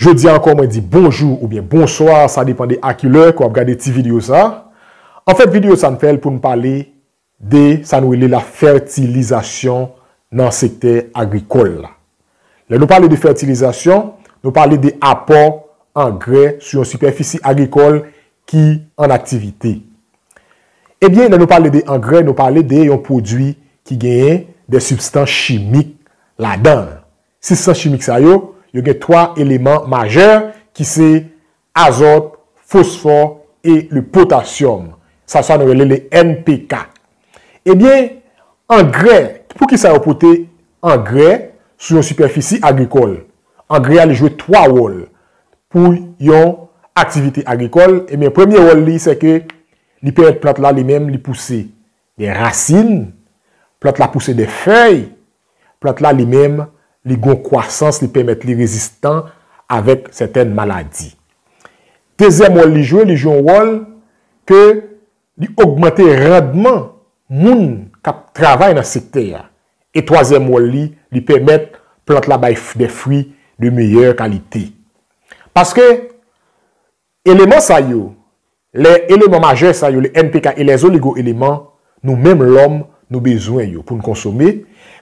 Jodi a ankò mwen di bonjou oubyen bonswa sa depan de a ki lè ke wap gade ti video sa. Anfèt video sa n fè l pou n pale de sa nou rele la fètilizasyon nan sektè agrikòl la. Lè nou pale de fètilizasyon, nou pale de apò angrè sou yon sipèfisi agrikòl ki an aktivite. Ebyen lè nou pale de angrè nou pale de yon pwodui ki genyen de sibstans chimik ladan l. Sibstans chimik sa yo, yo gen 3 eleman majè ki se, azòt, fosfò e le potasyòm. Sa sa nou rele le NPK. Ebyen, angrè, pou ki sa yo pote angrè sou yon sipèfisi agrikòl? Angrè a li jwe 3 wòl pou yon aktivite agrikòl. Ebyen, premye wòl li se ke li pèmèt plant la li menm li pouse. Gen rasin, plant la pouse de fèy, plant la li menm li gon kwasans li pèmèt li rezistan avèk sètèn maladi. Dezyèm wòl li jwe, li jwe yon wòl ke li ogmante randman moun k ap travay nan sektè a. E twazyèm wòl li, li pèmèt plant la bay de fri de meyè kalite. Paske. Eleman sa yo, lè eleman majè sa yo, le NPK e lè oligo eleman, nou menm lòm, nou bezwen yo pou n konsome,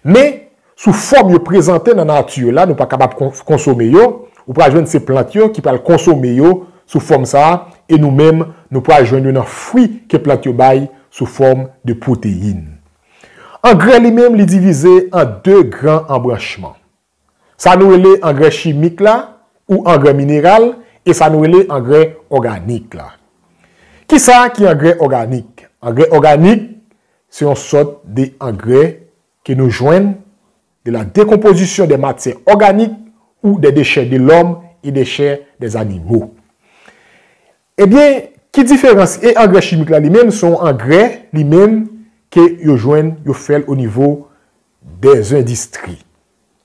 men, sou fòm yo prezante nan nati yo la, nou pa kapab konsome yo, ou pral jwenn se plant yo ki pral konsome yo sou fòm sa a, e nou menm, nou pral jwenn yo nan fwi ke plant yo bay sou fòm de pwoteyin. Angrè li menm li divize an de gran anbranchman. Sa nou rele angrè chimik la ou angrè mineral e sa nou rele angrè òganik la. Kisa ki angrè òganik? Angrè òganik se yon sòt de angrè ke nou jwenn de la dekonpozisyon de matyè òganik ou de dechè de lòm e dechè de zanimo. Ebyen, ki diferans e angrè chimik la li menm se yon angrè li menm ke yo jwenn yo fèl o nivo Dezendistri,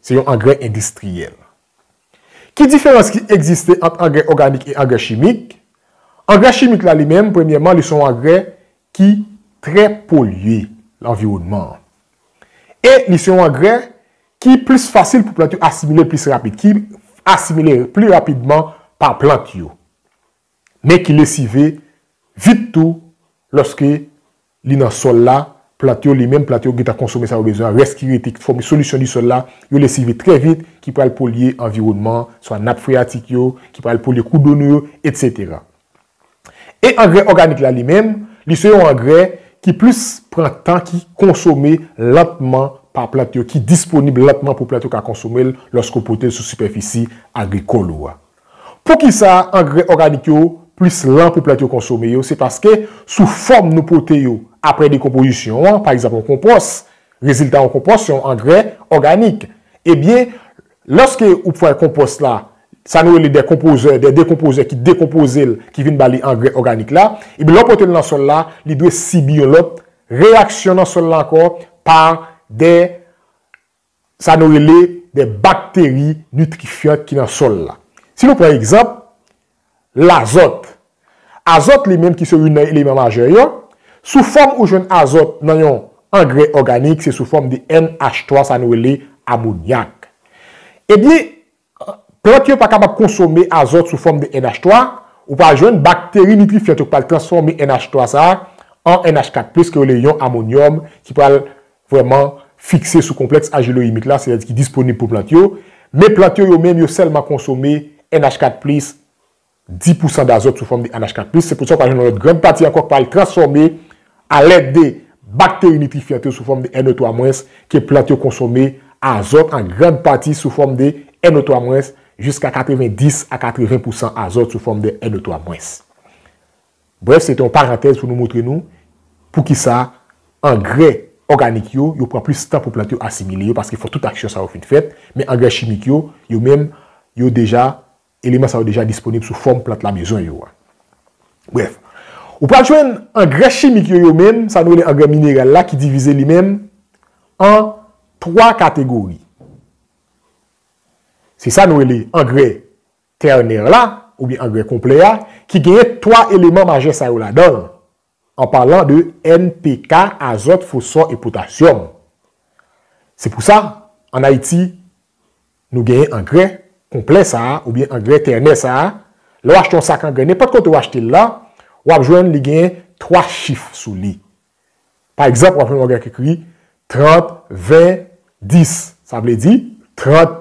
Se yon angrè endistriyèl. Ki diferans ki egziste ant angrè òganik e angrè chimik? Angrè chimik la li menm, premyèman, li se yon angrè ki trè polye lanviwònman an. E li se yon angrè ki plis fasil pou plant yo asimile plis rapid, ki asimile pli rapidman pa plant yo. Men ki lesive vit tou lòske li nan sòl la, plant yo, li menm plant yo gentan konsome sa yo bezwen an, rès ki rete ki fòme solisyon di sòl la, yo lesive trè vit ki pral polye anviwònman an, swa nap freyatik yo, ki pral polye kou do nou yo, etsetera. E angrè òganik la li menm, li se yon angrè ki plis pran tan ki konsome lantman pa plant yo, ki disponib lantman pou plant yo ka konsome l lòske w pote l sou sipèfisi agrikòl ou a. Poukisa angrè òganik yo plis lan pou plant yo konsome yo, se paske sou fòm nou pote yo aprè dekonpozisyon an, pa egzanp yon konpòs, rezilta yon konpòs se yon angrè òganik. Ebyen, lòske ou fè konpòs la, sa nou rele dekonpozè, dè dekonpozè ki dekonpoze l, ki vin ba li angrè òganik la, ebyen lè w pote l nan sòl la, li dwe sibi yon lòt reyaksyon nan sòl la ankò pa dè sa nou rele de bakteri nitrifyan ki nan sòl la. Si nou pran egzanp, lazòt. Azòt li menm ki se youn nan eleman majè yo, sou fòm ou jwenn azòt nan yon angrè òganik se sou fòm de NH3 sa nou rele amonyak. Ebyen, Plant yo pa kapab konsome azòt sou fòm de NH 3, ou pral jwenn bakteri nitrifiant yo k pral transfòme NH 3 sa a an NH 4 plis ki rele yon amonyòm ki pral vrèman fikse sou konplèks ajiloyimik la, sètadi ki disponib pou plant yo. Men plant yo yo menm yo sèlman konsome NH 4 plis 10 pousan dazòt sou fòm de NH 4 plis, se pou sa ou ka jwenn yon lòt grand pati ankò k pral transfòme alèd de bakteri nitrifyant yo sou fòm de NO 3 mwens ke plant yo konsome azòt an grand pati sou fòm de NO 3 mwens jiska 90 a 80 pousan azòt sou fòm de NO 3 mwens. Brèf se te yon parantèz pou nou moutre nou pou ki sa angrè òganik yo, yo pran plis tan pou plant yo asimile yo paske fò tout aksyon sa yo fin fèt men angrè chimik yo, yo menm yo deja Eleman sa yo deja disponib sou fòm plant lamezon yo a. Brèf, ou pral jwenn angrè chimik yo yo menm, sa nou rele angrè mineral la ki divize li menm an 3 kategori. Se sa nou rele angrè tènèr la, oubyen angrè konplè a, ki genyen 3 eleman majè sa yo ladan l. an palan de NPK, azòt, fosfò e potasyòm. Se pou sa, ann Ayiti, nou genyen angrè konplè sa a oubyen angrè tènè sa a. Lè w achte yon sak angrè, nenpòt kote w achte l la, w ap jwenn li genyen 3 chif sou li. Pa egzanp, w ap jwenn yon angrè ki ekri 30, 20, 10. Sa vle di, 30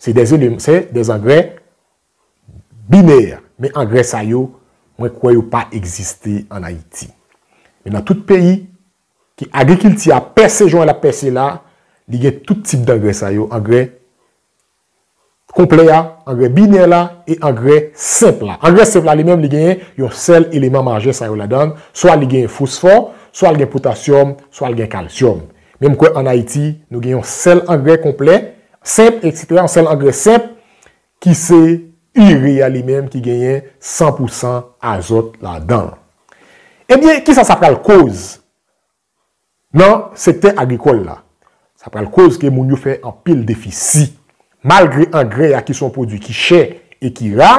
Se des eleman, se des angrè binè. Men angrè sa yo, mwen kwè yo pa egziste an Ayiti. Men nan tout peyi, ke agrikilti a pèse jan l ap pèse la, li gen tout tip dangrè sa yo, angrè konplè a, angrè binè la, e angrè senp la. Angrè senp la li menm li genyen yon sèl eleman majè sa yo ladan, swa li genyen fosfò, swa l gen potasyòm, swa l gen kalsyòm. Men m kwè an Ayiti nou gen yon sèl angrè konplè, senp, eksetera, yon sèl angrè senp ki se ire a li menm ki genyen san pou san azòt ladan l. Ebyen, kisa sa pral koz nan sektè agrikòl la? Sa pral koz ke moun yo fè anpil defisi. Malgre angrè a ki se yon pwodui ki chè e ki ra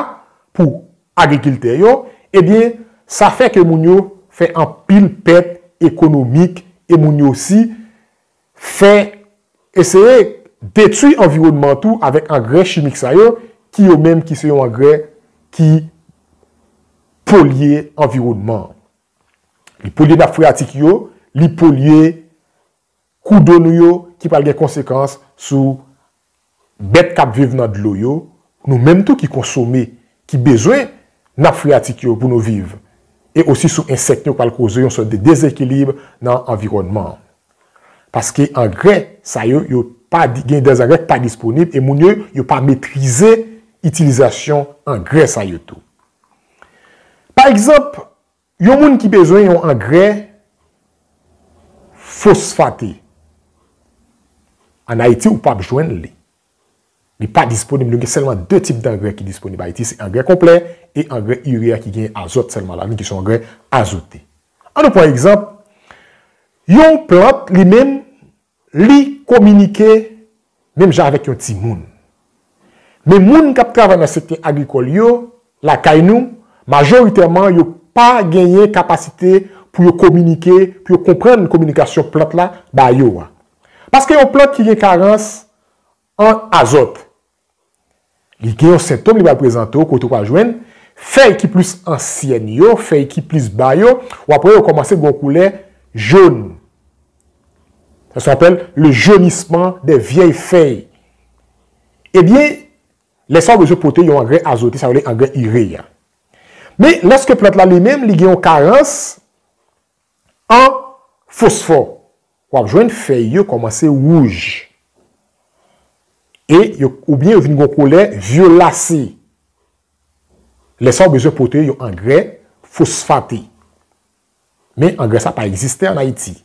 pou agrikiltè yo, ebyen sa fè ke moun yo fè anpil pèt ekonomik e moun yo osi fè eseye detui anviwònman tou avèk angrè chimik sa yo ki yo menm ki se yon angrè ki polye anviwònman. Li polye nap freyatik yo, li polye. Kou do nou yo ki pral gen konsekans sou bèt k ap viv nan dlo yo, nou menm tou ki konsome, ki bezwen nap freyatik yo pou nou viv, e osi sou ensèk yo k pral koze yon sòt de dezekilib nan anviwònman an. Paske angrè sa yo yo pa gen de angrè k pa disponib e moun yo yo pa metrize itilizasyon angrè sa yo tou. Pa egzanp, Yon moun ki bezwen yon angrè fosfate, an Ayiti ou pap jwenn li. Li pa disponib, nou gen sèlman 2 tip dangrè ki disponib Ayiti, se angrè konplè e angrè ire a ki gen azòt sèlman ladan li ki son angrè azote. An nou pran egzanp, yon plant li menm Li kominike menm jan avèk yon timoun. Men moun k ap travay nan sektè agrikòl yo lakay nou, majoritèman yo pa genyen kapasite pou yo kominike, pou yo konprann kominikasyon plant la ba yo a. Paske yon plant ki gen karans an azòt, Li gen yon sentom li pral prezante w kote ou pral jwenn fèy ki plis ansyèn yo, fèy ki plis ba yo, wap wè yo kòmanse gen yon koulè jaune. Sa se apèl le jaunissement des vieilles fèy. Ebyen, lè sa ou bezwen pote yon angrè azote, sa yo rele angrè ire a. Men, lòske plant la li menm li gen yon karans, An fosfò, w ap jwenn fèy yo kòmanse wouj e yo oubyen yo vin gen yon koulè vyolasi. Lè sa a ou bezwen pote yon angrè fosfate. Men angrè sa a pa egziste an Ayiti.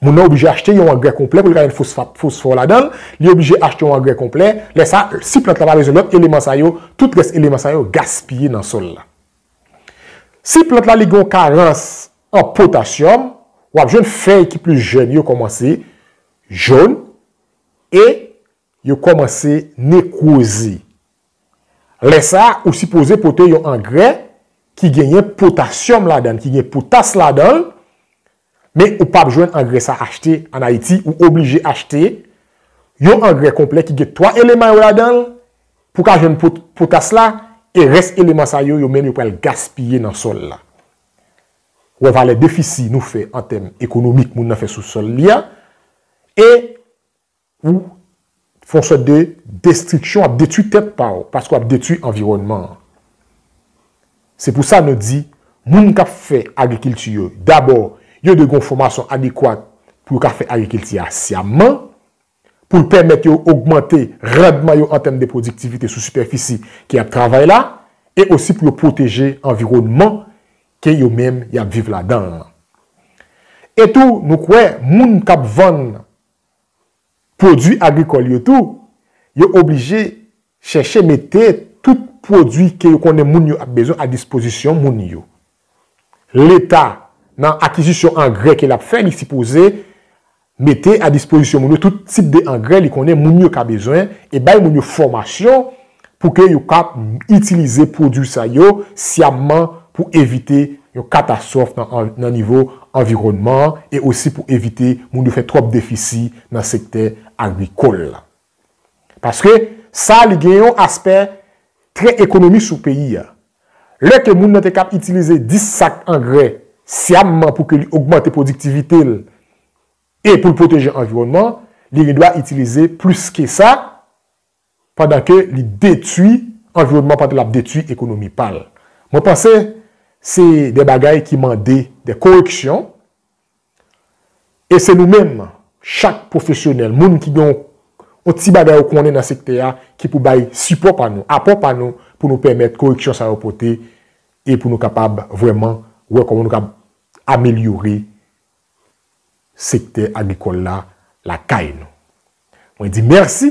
Moun nan oblije achte yon angrè konplè pou li ka gen fosfat, fosfò ladan l, li oblije achte yon angrè konplè, lè sa a si plant la pa bezwen lòt eleman sa yo, tout rès eleman sa yo gaspiye nan sòl la. Si plant la li gen yon karans an potasyòm, w ap jwenn fèy ki plis jèn yo kòmanse jòn e Yo kòmanse nekwoze. Lè sa a, ou sipoze pote yon angrè ki genyen potasyòm ladan l, ki gen potas ladan l, men ou pap jwenn angrè sa achte an Ayiti, ou oblije achte yon angrè konplè ki gen 3 eleman yo ladan l pou w ka jwenn potas la, e rès eleman sa yo, yo menm yo pral gaspiye nan sòl la. Wè valè defisi nou fè an tèm ekonomik moun nan fè sou sòl li a, e. Ou fon sòt de destriksyon wap detwi tèt paw paske wap detwi anviwònman an. Se pou sa nou di moun kap fè agrikilti yo dabò yo dwe gen yon fòmasyon adekwat pou yo ka fè agrikilti a syamman pou l pèmèt yo ogmante randman yo an tèm de pwodiktivite sou sipèfisi ke yap travay la e osi pou yo pwoteje anviwònman ke yo menm yap viv ladan an. E tou nou kwè moun kap vann. pwodwi agrikòl yo tou, yo oblije chèche mete tout pwodwi ke yo konnen moun yo ap bezwen a dispozisyon moun yo. Leta nan akizisyon angrè ke lap fè li sipoze mete a dispozisyon moun yo tout tip de angrè li konnen moun yo ka bezwen e bay moun yo fòmasyon pou ke yo ka itilize pwodui sa yo syamman pou evite yon katastwòf nan nivo anviwònman an e osi pou evite moun yo fè twòp defisi nan sektè agrikòl la. Paske sa li gen yon aspè trè ekonomik sou peyi a. Lè ke moun nan te kab itilize 10 sak angrè syamman pou ke li ogmante pwodiktivite l e pou l pwoteje anviwònman, li gen dwa itilize plis ke sa, pandan ke li detwi anviwònman pandan lap detwi ekonomi pal. Mwen panse se de bagay ki mande de koreksyon e se nou menm chak pwofesyonèl, moun ki gen yon ti bagay ou konnen nan sektè a ki pou bay sipò pa nou, apò pa nou pou nou pèmèt koreksyon sa yo pote e pou nou kapab vrèman wè kòman nou kab amelyore sektè agrikòl la lakay nou. Mwen di mèsi,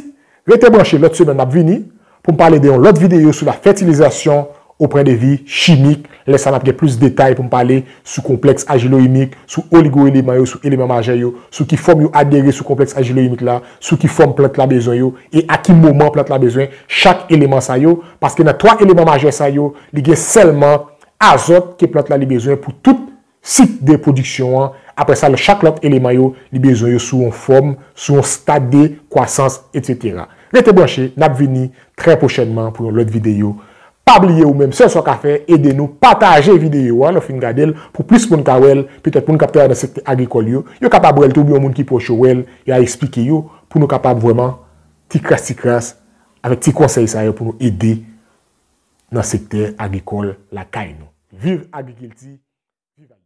rete branche lòt semèn map vini poum pale de yon lòt videyo sou la fètilizasyon oprè de vi chimik, lè sa nap gen plis detay poum pale sou konplèks ajiloyimik, sou oligoeleman yo, sou eleman majè yo, sou ki fòm yo adere sou konplèks ajiloyimik la, sou ki fòm plant la bezwen yo e a ki moman plant la bezwen chak eleman sa yo, paske nan 3 eleman majè sa yo li gen sèlman azòt ke plant la li bezwen pou tout sik de pwodiksyon an, apre sa lè chak lòt eleman yo li bezwen yo sou yon fòm, sou yon stad de kwasans etc. Rete branche, nap vini trè pwochènman pou yon lòt videyo. Pa bliye ou menm sèl sa w ka fè ede nou pataje videyo a lè w fin gade l pou plis moun ka wè l, petèt moun kap travay nan sektè agrikòl yo, yo kapab wè l tou oubyen yon moun ki pwòch yo wè l e a esplike yo pou nou kapab vrèman ti kras ti kras avèk ti konsèy sa yo pou nou ede nan sektè agrikòl lakay nou. Viv agrikilti, viv Ayiti!